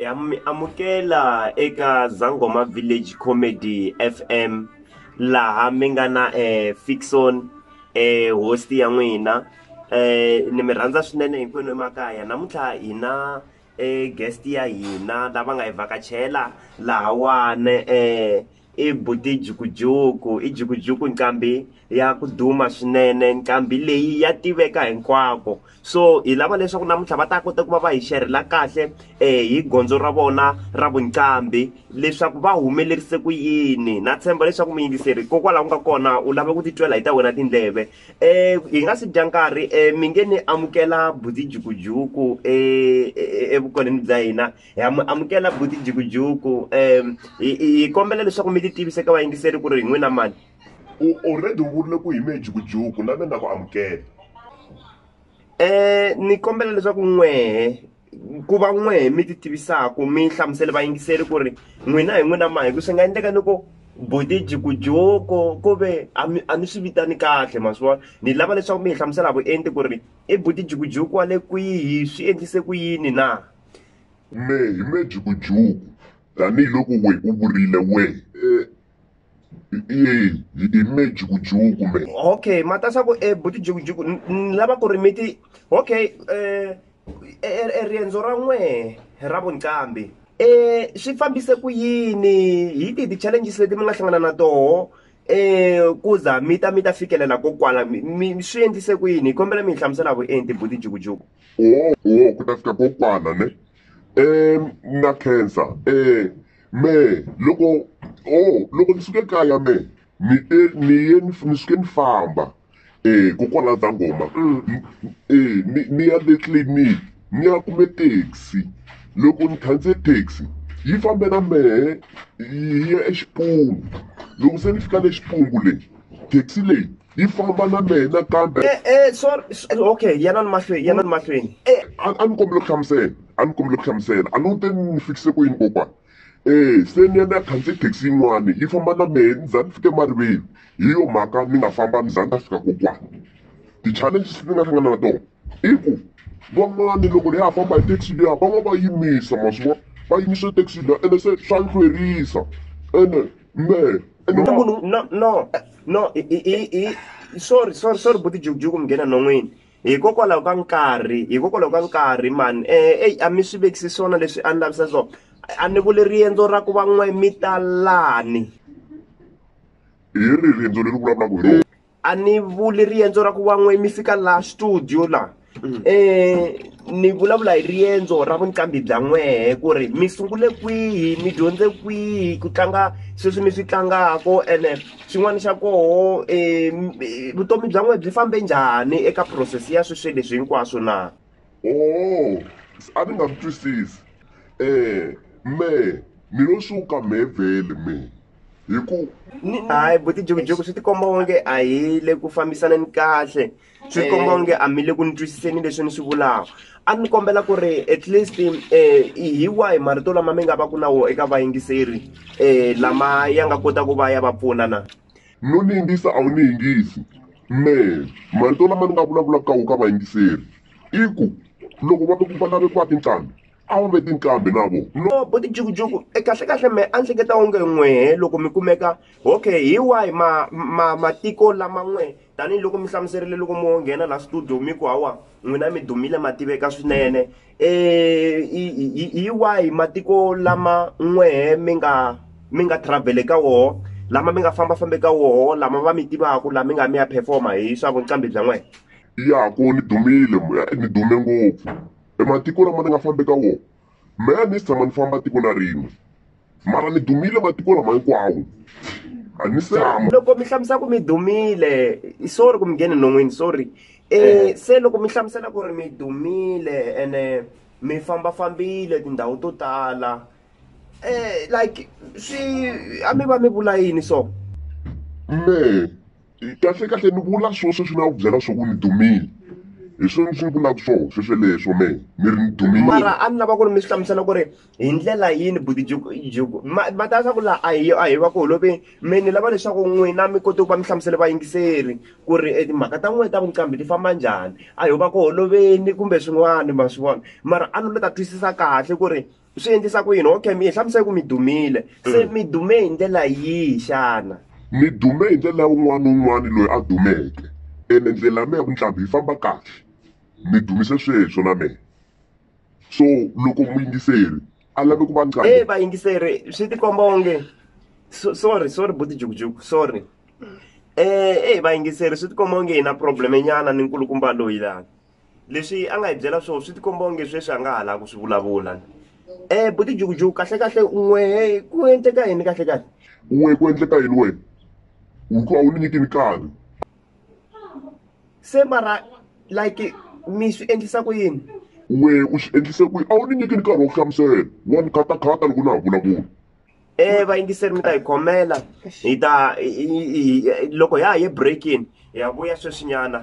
Ha mi amukela eka Zangoma Village Comedy FM laha mi nga na eh, Fixon eh, host ya n'wina eh, ni mi rhandza swinene hinkwenu emakaya namuntlha hina eh, guest ya hina lava nga hi vhakachela lahawane eh, I buti jukujuku i jukujuku nqambi ya ku duma swinene nqambi leyi ya tiveka hinkwako so hi lava leswaku namuntlha va ta kota ku va va hi xerhela kahle hi gondzo ra vona ra vuqambi leswaku va humelerise ku yini na tshemba leswaku muyingiseri hikokwalaho nga kona u lava ku titwela hi ta wena tindleve hi nga si dya nkarhi mi nge ni amukela buti jukujuku evukon'wini bya hina ha mi amukela buti jikujuku um hi kombela leswaku mi ti tivise ka vayingiseri ku ri hi n'wina mani u already u vurile ku hi mehe jikujuku na mina ku amukela um ni kombela leswaku n'wehe ku va n'wehe mi ti tivisaka mi hlamusele vayingiseri ku ri n'wina hi n'wina mani hi ku swi nga endleka ni ku buti jikujuku ku ve a ni swi vitani kahle ma swi vona ni lava leswaku mi hi hlamusela vuenti ku ri i buti jikujuku wa le kwihi swi endlise ku yini na Kume hi Mejukujuku, tanihi loko we u vurile we. Eh, Eyi, hi hi Mejukujuku me. okay matasa ku e buti jukujuku ni- ni lava ku ri mi ti okay eh, eh, eh, riendzo ra n'wehe ra vuncambi eh, swi fambise ku yini hi tihi ti-challenges leti mi nga hlangana na toho eh, ku za mi ta mi ta fikelela ko kwala mi- mi swi endlise ku yini hi kombela mi hi hlamusela vuenti buti jukujuku wo wo ku ta fika kokwana ne um na khensa um eh, me loko o oh, loko ni suke kaya me ni te ni ye ni suke ni famba um kokwana ta ngoma um ni ya le tliliniki ni ya kume taxi loko ni khandziye taxi yi fambe na mehe yi ya exipunu loko se ni fika le xipungu leyi taxi leyi yi famba na mehe nakambe eh, eh, okay yana ni mahlweni yana ni mahlweni eh. a ni kombele ku hlamusela a ni kombele ku hlamusela a ni te ni fikise ku yini kokwana um se ni ya ni ya khandziye taxi yin'wani yi famba na mehe ni za ni fike mariveni hi yo mhaka ni nga famba ni za ni ta fika kokwana ti-challenges ni nga hlangana na tona i ku van'wani loko hi ya famba hi taxi liya va va va yimisa ma swi vona va yimisa taxi liya ene se swa ni hlwerisa ene mehe ene Na munhu no no no i i i- i sorry sorry sorry buti jukujuku mi nghena nhon'wini hikokwalaho ka nkarhi hikokwalaho ka nkarhi mani eh eyi a mi swi vekisi swona leswi a ni lavisa swona a ni vuli riendzo ra ku va n'we mi talani hi ri riendzo leri vulavulaka hi rona a ni vuli riendzo ra ku van'we mi fika laha studio laha um ni vulavula hi riendzo ra vuqambi bya n'wehe ku ri mi sungule kwihi mi dyondze kwihi ku tlanga sweswi mi swi tlangako ene xin'wana xa koho um vutomi bya n'wehe byi fambe njhani eka process ya sweswi leswi hinkwaswo na oo a ni nga swi twisisi um mehe ni lo suka mehe vhele mehe hi ku ni hayi buti jikujiku swi tikomba onge a hi le ku fambisaneni kahle swi eh. komba onge a mi le ku ni twisiseni leswi ni swi vulaka a ni kombela ku ri at least um hi wahi marito lama mi nga va ku na wo eka vayingiseri um lama ya nga kota ku va ya va pfuna na no ni yingisa a wu ni yingisi me marito lama ni nga vulavulaka ka wo ka vayingiseri i ku loko va va lave ku va tinqambi a wu ve tinqambi na vo no bo tijukujuku e kahle kahle me a ni hleketa onge n'wehe loko mi kumeka okay hi wahi ma ma matiko lama n'we tanihiloko mi hlamuserile loko mo nghena la studio mi ku hawa n'wina mi dumile ma tiveka swinene um hi wahi matiko lama n'wehe mi nga mi nga travel eka woho lama mi nga famba famba eka woho lama va mi tivaku lama mi nga mi ya performa hi swa vuqambi bya n'wehe ya ko ni dumile ni dume ngopfu e matiko lama ni nga fambi ka wona mehe a ni si tshama ni famba tiko na rin'we mara ni dumile matiko lama hinkwawo a ni se hamba loko mi hlamusela ku mi dumile sorry ku mi ngheni non'wini sorry um se loko mi hlamusela ku ri mi dumile ene mi fambafambile tindhawu to tala um like swi a mi va mi vula yini so mehe kahle kahle ni vula swona sweswi na ku byela swa ku ni dumile hi swona leswi ni vulaka swona sweswi leswo me ni ri ni dumile mara a ni lava ku ri mi swi hlamusela ku ri hi ndlela yini buti juku ma ta swa ku laha a hi a hi va ku holove me ni lava leswaku n'wina mi kote ku va mi hlamusele vayingiseri ku ri e timhaka ta n'wina ta vuqambi ti famba njhani a hi va ku holoveni kumbe swin'wana ma swi vona mara a ni lo ta twisisa kahle ku ri swi endlisa ku yini okay mi hi hlamusele ku mi dumile se mm. mi dume hi ndlela yihi xana mi dume hi ndlela un'wana na un'wana loyi a dumeke ene ndlela ya mehe ku ntlhambi yi famba kahle mi dumise sweswo na mehe so loko muyingiseri a lave ku va nqambi e vayingiseri swi tikomba onge sorry sorry buti jukujuku sorry um e vayingiseri swi tikomba onge hi na problemenyana ni nkulukumba loyi lani leswi a nga hi byela swona swi tikomba onge sweswi a nga ha lavi ku swi vulavula um buti jukujuku kahle kahle n'we ku endleka yini kahle kahle n'we ku endleka yini wena u ku a wu ni nyiki nkarhi se mara like mi swi endlisa ku yini n'we u swi endlise ku yini a wu ni nyiki nkarhi wa ku hlamusela wa ni khatakhata loko na ha vulavula um vayingiseri mi ta hi khomela hi ta loko ya ha ye breakin hi ya vuya sweswinyana